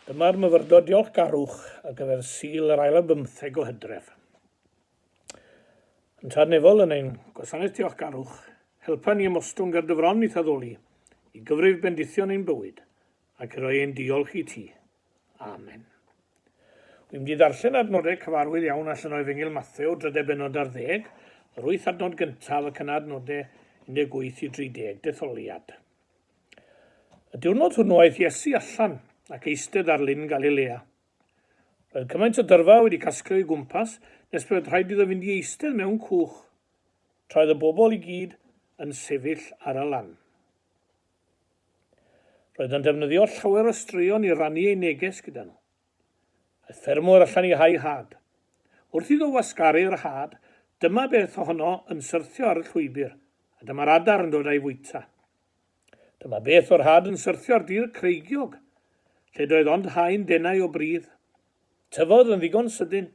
Dyma'r myfyrdod diolchgarwch ar gyfer Sul yr ail ar bymtheg o Hydref. Yn Tadnefol yn ein Gwasanaeth Diolchgarwch, helpa ni ymostwng ar dy fron i'th addoli, i gyfrif bendithion ein bywyd, ac i roi ein diolch i ti. Amen. Wy'n mynd i ddarllen adnodau cyfarwydd iawn allan o Efengyl Mathew, drydedd benod ar ddeg, yr wyth adnod gyntaf ac yna adnodau 18 i 30, detholiad. Y diwrnod hwnnw aeth Iesu allan ac eistedd ar lyn Galilea. Roedd cymaint o dyrfa wedi casglu o'i gwmpas nes pe oedd rhaid iddo fynd i eistedd mewn cwch, tra oedd y bobl i gyd yn sefyll ar y lan. Roedd yn defnyddio llawer o straeon i rannu ei neges gyda nhw. Aeth ffermwr allan i hau had. Wrth iddo wasgaru'r had, dyma beth ohono yn syrthio ar y llwybr, a dyma'r adar yn dod a'i fwyta. Dyma beth o'r had yn syrthio'r dir creigiog, lle doedd ond haen denau o bridd. Tyfodd yn ddigon sydyn,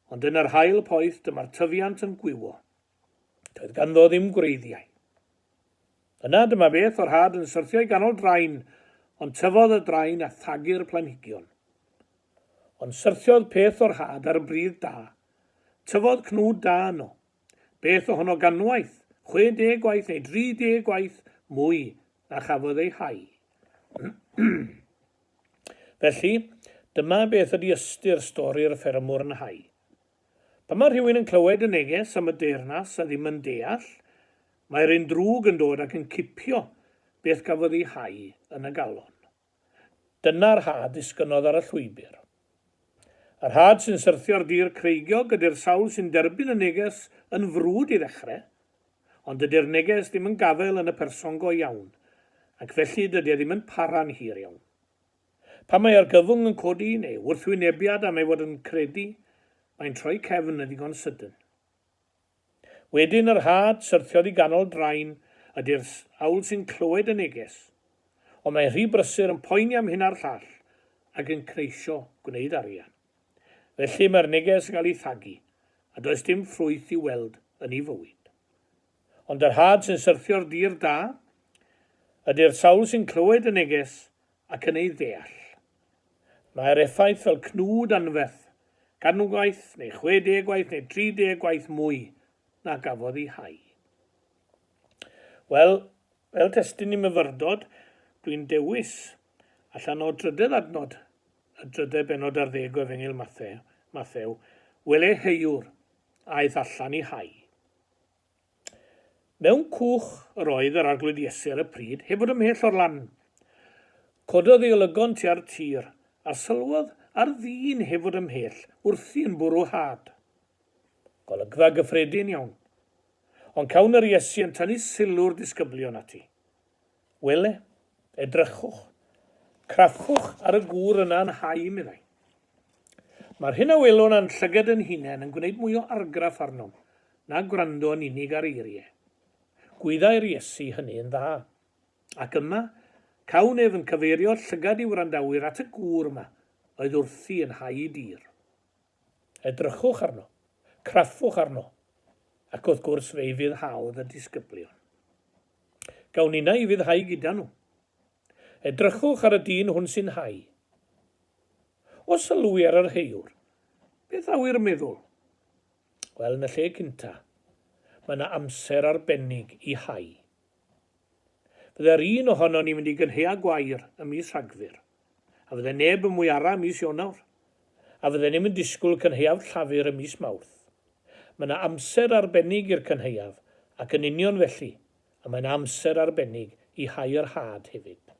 ond yn yr haul poeth dyma'r tyfiant yn gwywo. Doedd ganddo ddim gwreiddiau. Yna dyma beth o'r had yn syrthio i ganol drain, ond tyfodd y drain a thagu'r planhigion. Ond syrthiodd peth o'r had ar bridd da. Tyfodd cnwd da yno, Beth ohono ganwaith, 60 gwaith neu 30 gwaith mwy na chafodd ei hau? Felly, dyma beth ydy ystyr stori'r ffermwr yn hau. Pan mae rhywun yn clywed y neges am y deyrnas a ddim yn deall, mae'r un drwg yn dod ac yn cipio beth gafodd ei hau yn y galon. Dyna'r ha disgynnodd ar y llwybr. Yr had sy'n syrthio'r dir creigiog ydy'r sawl sy'n derbyn y neges yn frwd i ddechrau, ond dydy'r neges ddim yn gafael yn y person go iawn, ac felly dydy e ddim yn para'n hir iawn. Pan mae argyfwng yn codi, neu wrthwynebiad am ei fod yn credu, mae'n troi cefn yn ddigon sydyn. Wedyn yr had syrthiodd i ganol drain y dyrss awl sy'n clywed y neges. Ond mae rhy brysur yn poeni am hyn a'r llall ac yn cneisio gwneud arian. Felly mae'r neges yn cael ei thagu a does dim ffrwyth i'w weld yn ei fywyd. Ond yr had sy'n syrthio'r dir da? Ydy'r sawl sy'n clywed y neges ac yn ei ddeall. Mae'r effaith fel cnwd anferth, can gwaith, neu chwe deg gwaith, neu tri deg gwaith mwy na gafodd ei hau. Wel, fel testyn i myfyrdod, dwi'n dewis, allan o drydedd adnod, y drydedd benod ar ddeg o Efengyl Mathew, Mathew, wele heuwr, aeth allan i hau. Mewn cwch yr oedd yr Arglwydd Iesi ar y pryd, heb fod ymhell o'r lan. Cododd ei olygon tua'r tir, a sylwodd ar ddyn heb fod ymhell wrthi yn bwrw had. Golygfa gyffredin iawn. Ond cawn yr Iesu yn tynnu sylw'r disgyblion ati. Wele, edrychwch, crafchwch ar y gŵr yna yn hau, meddai. Mae'r hyn a welwn a'n llyged yn hunain yn gwneud mwy o argraff arnom na gwrando yn unig ar eiriau. Gwyddai'r Iesu hynny yn dda. Ac yma, cawn ef yn cyfeirio'r llygad i wrandawyr at y gŵr yma oedd wrthi yn hau dir. Edrychwch arno, craffwch arno, ac wrth gwrs fe'i fydd hawl y disgyblion. Gawn ninna i fydd hau gyda nhw. Edrychwch ar y dyn hwn sy'n hau. Os sylwi ar yr heiwr, beth a wy'r meddwl? Wel, yn y lle cynta, mae yna amser arbennig i hau. Fydde'r un ohonon ni fynd i Gynheua Gwair ym mis Rhagfyr, a fydde neb yn Mwyara ym mis Ionawr, a fydden ni'm yn disgwyl cynhaeaf Llafur ym mis Mawrth. Mae 'na amser arbennig i'r cynhaeaf, ac yn union felly, y mae 'na amser arbennig i hau yr had hefyd.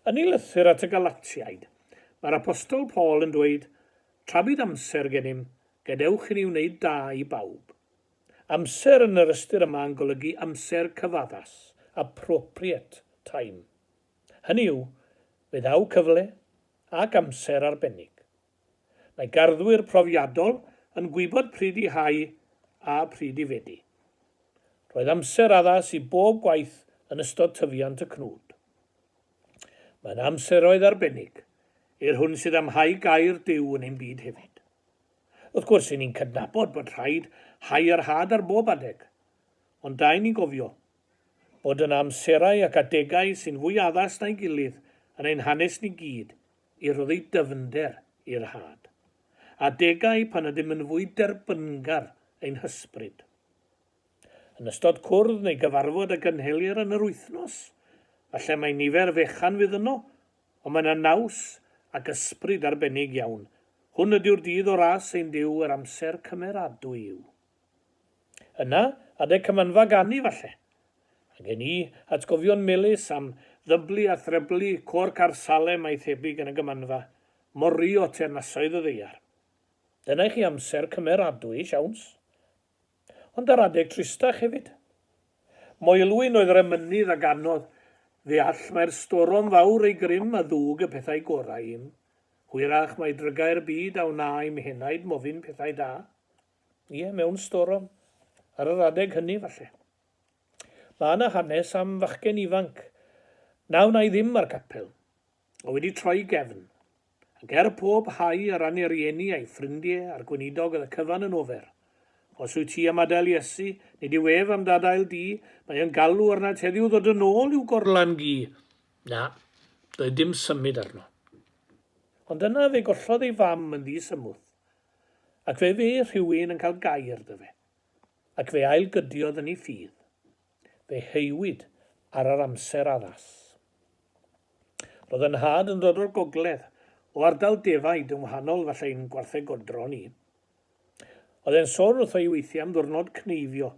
Yn ei lythyr at y Galatiaid, mae'r Apostol Paul yn dweud, Tra bydd amser gennym, gadewch i ni wneud da i bawb. Amser yn yr ystyr yma yn golygu amser cyfaddas, appropriate time. Hynny yw, fe ddaw cyfle ac amser arbennig. Mae garddwyr profiadol yn gwybod pryd i hau a phryd i fedi. Roedd amser addas i bob gwaith yn ystod tyfiant y cnwd. Mae yna amseroedd arbennig i'r hwn sydd am hau gair Duw yn ein byd hefyd. Wrth gwrs, ry'n ni'n cydnabod bod rhaid hau yr had ar bob adeg, ond dau ni'n gofio bod yna amserau ac adegau sy'n fwy addas na'i gilydd yn ein hanes ni gyd i roddi dyfnder i'r had, adegau pan ydym yn fwy derbyngar ein hysbryd. Yn ystod cwrdd neu gyfarfod a gynhelir yn yr wythnos, falle mai nifer fechan fydd yno, Ond mae yna naws ac ysbryd arbennig iawn. Hwn ydyw'r dydd o ras ein Duw yr amser cymeradwy yw. Yna, adeg cymanfa ganu falle. A gen i atgofion melys am ddyblu a threblu côr car Salem a'i thebyg yn y gymanfa, mor ry o teyrnasoedd y ddaear. Dyna i chi amser cymeradwy, siawns. Ond ar adeg tristach hefyd. Moelwyn oedd yr emynydd a ganodd ddeall mai'r storom fawr ei grym a ddug y pethau gorau i'm. Hwyrach mai drygau'r byd a wna i'm henaid mofyn pethau da. Ie, mewn storom. Ar yr adeg hynny, falle. Mae yna hanes am fachgen ifanc, na wna i ddim â'r capel, oedd wedi troi gefn. A ger pob hau a rannu rieni a'i ffrindie a'r gweinidog yn y cyfan yn ofer. Os wyt ti am adael Iesu, nid yw ef am dadael di, mae yn galw arnat heddiw ddod yn ôl i'w gorlan gi. Na, doedd dim symud arno. Ond yna fe gollodd ei fam yn ddi-symwth, ac fe fe rhywun yn cael gair 'da fe, ac fe ail-gydiodd yn ei ffydd. fe heiwyd ar yr amser addas. Roedd yn nhad yn dod o'r gogledd, o ardal defaid yn wahanol falle i'n gwarthegodro ni. Oedd e'n sôn wrtho i weithiau am ddwrnod cneifio.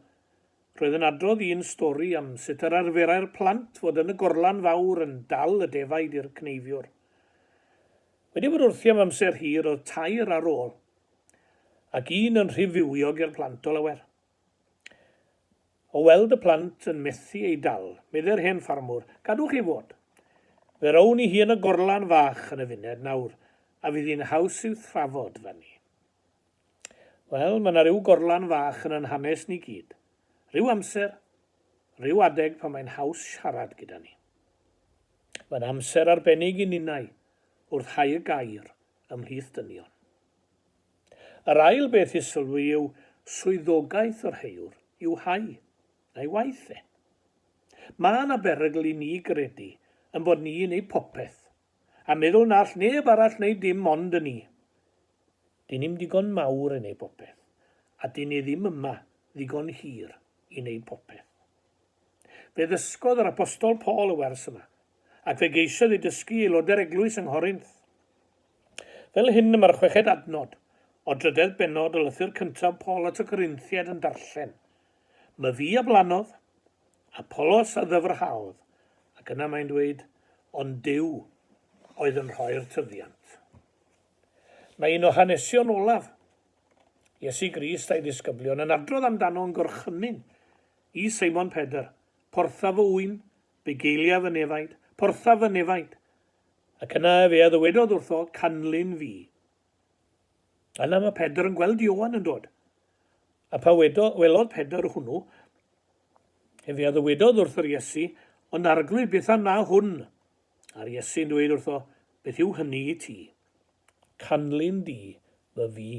Roedd yn adrodd un stori am sut yr arferai'r plant fod yn y gorlan fawr yn dal y defaid i'r cneifiwr. Wedi bod wrthi am amser hir oedd tair ar ôl, ac un yn rhy fywiog i'r plant o lawer. O weld y plant yn methu ei dal, meddai'r hen ffarmwr, Gadwch ei fod! Fe rown i hi yn y gorlan fach yn y funed nawr, a fydd hi'n haws i'w thrafod 'da ni. Wel, mae 'na ryw gorlan fach yn 'yn hanes ni gyd. Ryw amser, ryw adeg pan mae'n haws siarad gyda ni. Mae'n amser arbennig i ninnau wrth hau y gair ymhlith dynion. Yr ail beth i sylwi yw swyddogaeth yr heywr i'w hau, na'i waith e. Mae yna berygl i ni gredu ein bod ni yn ei phopeth, a meddwl na all neb arall wneud dim ond y ni. Dŷn ni'm digon mawr i wneud popeth, a dŷn ni ddim yma ddigon hir i wneud popeth. Fe ddysgodd yr Apostol Paul y wers yma, ac fe geisiodd ei dysgu i aelodau'r eglwys yng Nghorinth. Fel hyn y mae'r chweched adnod o drydedd bennod o lythyr cyntaf Paul at y Corinthiaid yn darllen, My fi a blannodd, Apollos a ddyfrhaodd, ac yna mae'n dweud, ond Duw oedd yn rhoi'r tyfiant. Mae un o hanesion olaf Iesu Grist a'i ddisgyblion yn adrodd amdano yn gorchymyn i Seimon Pedr, Portha fy ŵyn Bugeiliaf y nefaid, porthaf y nefaid. Ac yna efe a ddywedodd wrtho, Canlyn fi. Yna mae Pedr yn gweld Ioan yn dod. A pa wedo, welodd Pedr hwnnw, efe a ddywedodd wrth yr Iesu, Ond arglwydd, beth am na hwn? A'r Iesu'n dweud wrtho, Beth yw hynny i ti? Canlyn di fy fi.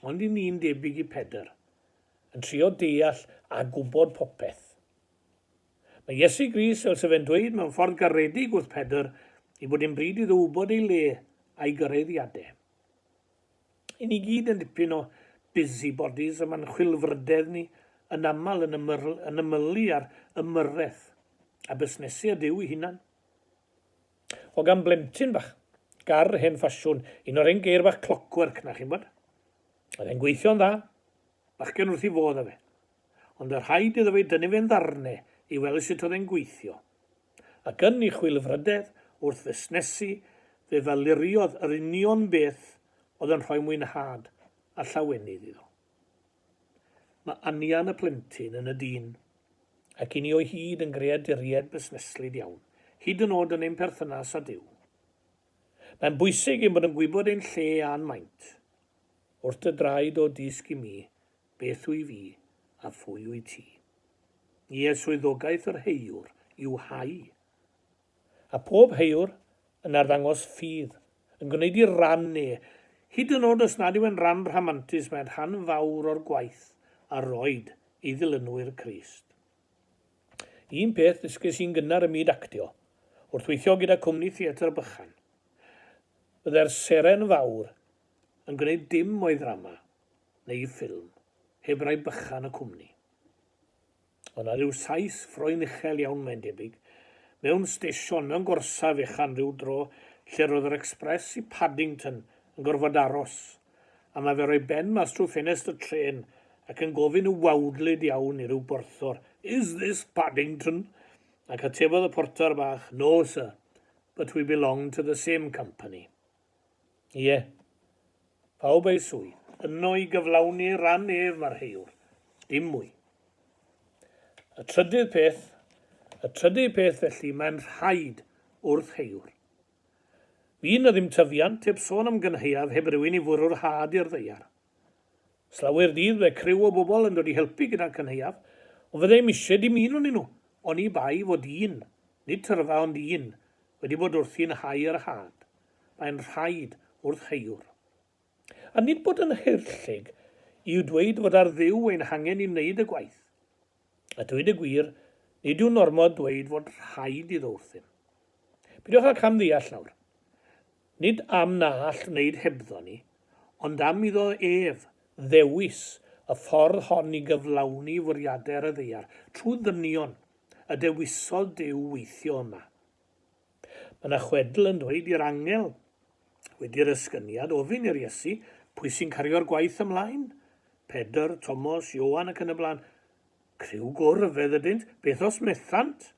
Ond i ni'n debyg i Pedr, yn trio deall a gwybod popeth. Mae Iesu Grist, fel sef e'n dweud mewn ffordd garedig wrth Pedr, i bod yn bryd iddo wybod ei le a'i gyraeddiadau. I ni gyd yn dipyn o busybodies y mae'n chwilfrydedd ni yn aml yn, ymyl, yn ymylu ar ymyrraeth a busnesu y Duw ei hunan. O gan blentyn bach. Gar hen ffasiwn. Un o'r hen geir bach clockwork na, chi'n bod? Oedd e'n gweithio'n dda. Bachgen wrth i fodd a fe. Ond y rhaid iddo fe dynnu fe'n ddarne i weld sut oedd e'n gweithio. Ac yn ei chwilfrydedd wrth fusnesu, fe faluriodd yr union beth oedd yn rhoi mwynhad a llawenydd iddo. Mae anian y plentyn yn y dyn ac i ni o hyd yn greaduriaid busneslyd iawn, hyd yn oed yn ein perthynas â Duw. Mae'n bwysig ein bod yn gwybod ein lle a'n maint. Wrth dy draed o dysg i mi, beth wy fi a phwy wyt ti. Ie, swyddogaeth yr heiwr yw hau, a phob haeawr yn arddangos ffydd, yn gwneud i ran e, hyd yn od os nad yw e'n ran rhamantus, mae'n rhan fawr o'r gwaith a roed ei ddilynwyr Crist. Un peth ddysges i'n gynnar ym myd actio, wrth weithio gyda cwmni theatr bychan, byddai'r seren fawr yn gwneud dim o'i ddrama, neu'i ffilm, heb rai bychan y cwmni. Ond ar ryw Sais ffroen uchel iawn mae'n debyg, mewn stesion mewn gorsaf fechan ryw dro lle roedd yr express i Paddington yn gorfod aros, a mae fe roi ben mas trwy ffenest y trên ac yn gofyn yn wawdlyd iawn i ryw borthor, Is this Paddington? Ac atebodd y porthor bach, No sir, but we belong to the same company. Ie. Pawb ei swydd. Yno i gyflawni ran ef marheuwr. Dim mwy. Y trydydd peth, y trydydd peth felly mae'n rhaid wrth heuwr. Fydd na ddim tyfiant heb sôn am gynhaeaf heb rywun i fwrw'r had i'r ddaear. Slawer dydd mae criw o bobl yn dod i helpu gyda'r cynhaeaf, ond fydda i'm eisiau dim un onyn nhw, oni bai fod un, nid tyrfa ond un, wedi bod wrthi'n hau yr had. Mae'n rhaid, wrth heuwr. A nid bod yn haerllug yw dweud fod ar Dduw ein hangen i wneud y gwaith. A dweud y gwir, nid yw'n ormod dweud fod rhaid iddo wrthym. Peidiwch â cam-ddeall nawr. Nid am na all wneud hebddo ni, ond am iddo ef ddewis y ffordd hon i gyflawni fwriadau'r y ddaear, trwy ddynion, y dewisodd Duw weithio yma. Mae yna chwedl yn dweud i'r angel, wedi'r esgyniad, ofyn i'r Iesu, pwy sy'n cario'r gwaith ymlaen? Pedr, Tomos, Ioan ac yn y blaen. Criw go ryfedd ydynt, beth os methant?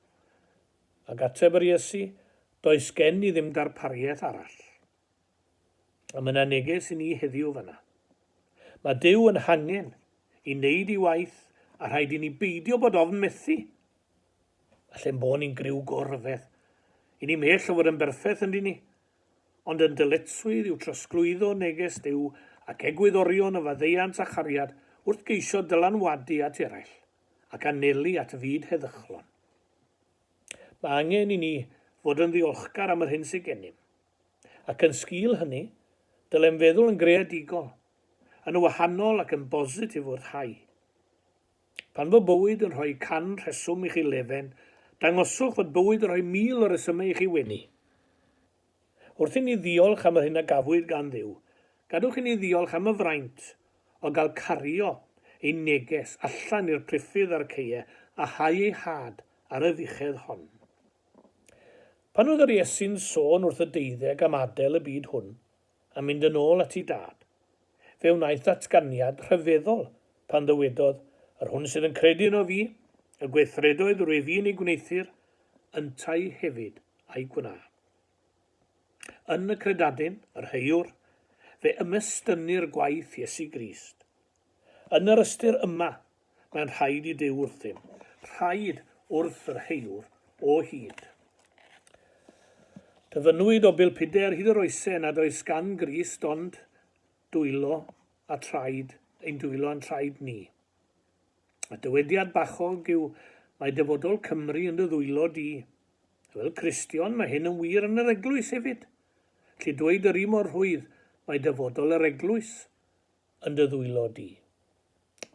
Ac ateb yr Iesu, does gen i ddim darpariaeth arall. A mae yna neges i ni heddiw fanna. Mae Duw yn hangen i wneud ei waith a rhaid i ni beidio bod ofn methu. All ein bod ni'n griw go rhyfedd. I ni mhell o fod yn berffeth yndyn ni. Ond yn dyletswydd yw trosglwyddo neges Duw ac egwyddorion o faddeuant a chariad wrth geisio dylanwadu at eraill ac anelu at fyd heddychlon. Mae angen i ni fod yn ddiolchgar am yr hyn sydd gennym. Ac yn sgil hynny, dylem feddwl yn greadigol, yn wahanol ac yn bositif wrth hau. Pan fo bywyd yn rhoi can rheswm i chi lefen, dangoswch fod bywyd yn rhoi mil o resymau i chi wenu. Wrth inni ddiolch am yr hyn a gafwyd gan Dduw, gadwch inni ddiolch am y fraint o gael cario ein neges allan i'r priffydd a'r ceue a hau ei had ar y fuchedd hon. Pan oedd yr Iesu'n sôn wrth y deuddeg am adael y byd hwn, A mynd yn ôl at ei dad, fe wnaeth ddatganiad rhyfeddol pan ddywedodd, Yr hwn sydd yn credu yno fi, y gweithredoedd rwyf i'n eu gwneuthur, yntau hefyd a'i gwna. Yn y credadun, yr heuwr, fe ymestynnir gwaith Iesu Grist, Yn yr ystyr yma, mae'n rhaid i Duw wrthym, rhaid wrth yr heilwr o hyd. Dyfynnwyd o bilpudau ar hyd yr oesau nad oes gan Grist ond dwylo a traed, ein dwylo a'n traed ni. Y dywediad bachog yw mae dyfodol Cymru yn dy ddwylo di. Fel Cristion, mae hyn yn wir yn yr eglwys hefyd. Lle dweud yr un mor rhwydd, mae dyfodol yr eglwys yn dy ddwylo di.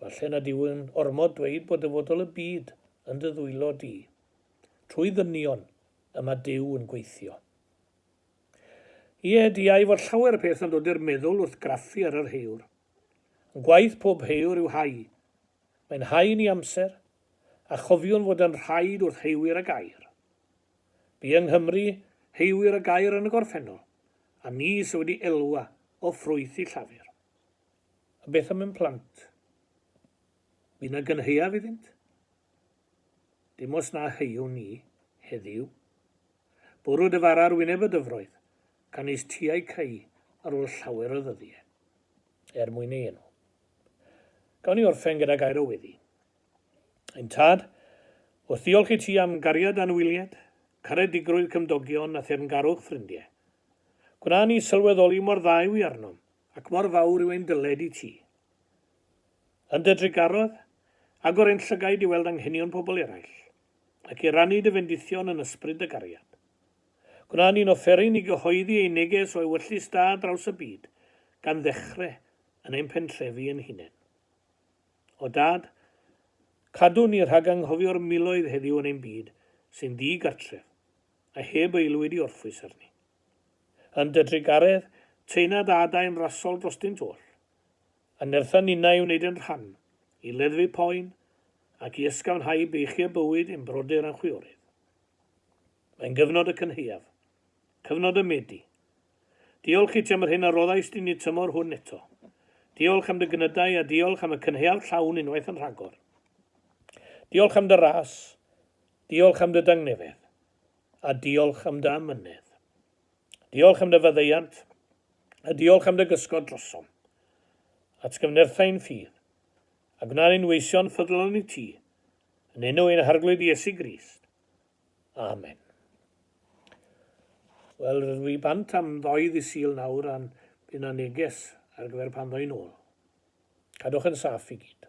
Falle nad yw'n ormod dweud bod dyfodol y byd yn dy ddwylo di. Trwy ddynion y mae Duw yn gweithio. Ie, diau fod llawer peth yn dod i'r meddwl wrth graffu ar yr heur. Yn gwaith pob heur yw hau. Mae'n hau i ni amser, a chofiwn fod yn rhaid wrth heuwyr a gair. Bu yng Nghymru heuwyr a gair yn y gorffennol, A ni sy wedi elwa o ffrwyth i Llafur. A beth am ein plant? Fu 'na gynhaeaf iddynt? Dim os na heuwn ni, heddiw. Bwrw dy fara ar wyneb y dyfroedd, canys ti a'i creu ar ôl llawer o ddyddiau. Er mwyn ei enw. Gawn ni orffen gyda gair o weddi. Ein Tad, wrth ddiolch i Ti am gariad anwylied, caredigrwydd cymdogion a theyrngarwch ffrindiau. Gwna ni sylweddoli mor dda yw i arnom ac mor fawr yw ein dyled i Ti. Yn Dy drugarodd, agor ein llygaid i weld anghenion pobl eraill, ac i rannu Dy fendithion yn ysbryd Dy gariad. Gwna ni'n offeryn i gyhoeddi ein neges o ewyllys Da draws y byd, gan ddechrau yn ein pentrefi ein hunain. O Dad, cadw ni rhag anghofio'r miloedd heddiw yn ein byd sy'n ddi-gartref a heb aelwyd i orffwys arni. Yn dy drugaredd, teuna dy adain rasol drostynt oll, a nertha ninnau i wneud ein rhan i leddfu poen ac i ysgafnhau beichiau bywyd i'n brodyr a'n chwiorydd. Mae'n gyfnod y cynhaeaf, cyfnod y Medi, Diolch i ti am yr hyn a roddaist i ni tymor hwn eto. Diolch am dy gnydau a diolch am y cynhaeaf llawn unwaith yn rhagor. Diolch am dy ras, diolch am dy dangnefedd, a diolch am dy amynedd. Diolch am dy faddeuant, a diolch am dy gysgod drosom. Atgyfnertha ein ffydd, a gwna ni'n weision ffyddlon i ti, yn enw ein Harglwydd Iesu Grist. Amen. Wel, rydw i bant am ddoedd i Sul nawr a'n bydd na neges ar gyfer pan ddoi'n ôl. Cadwch yn saff i gyd.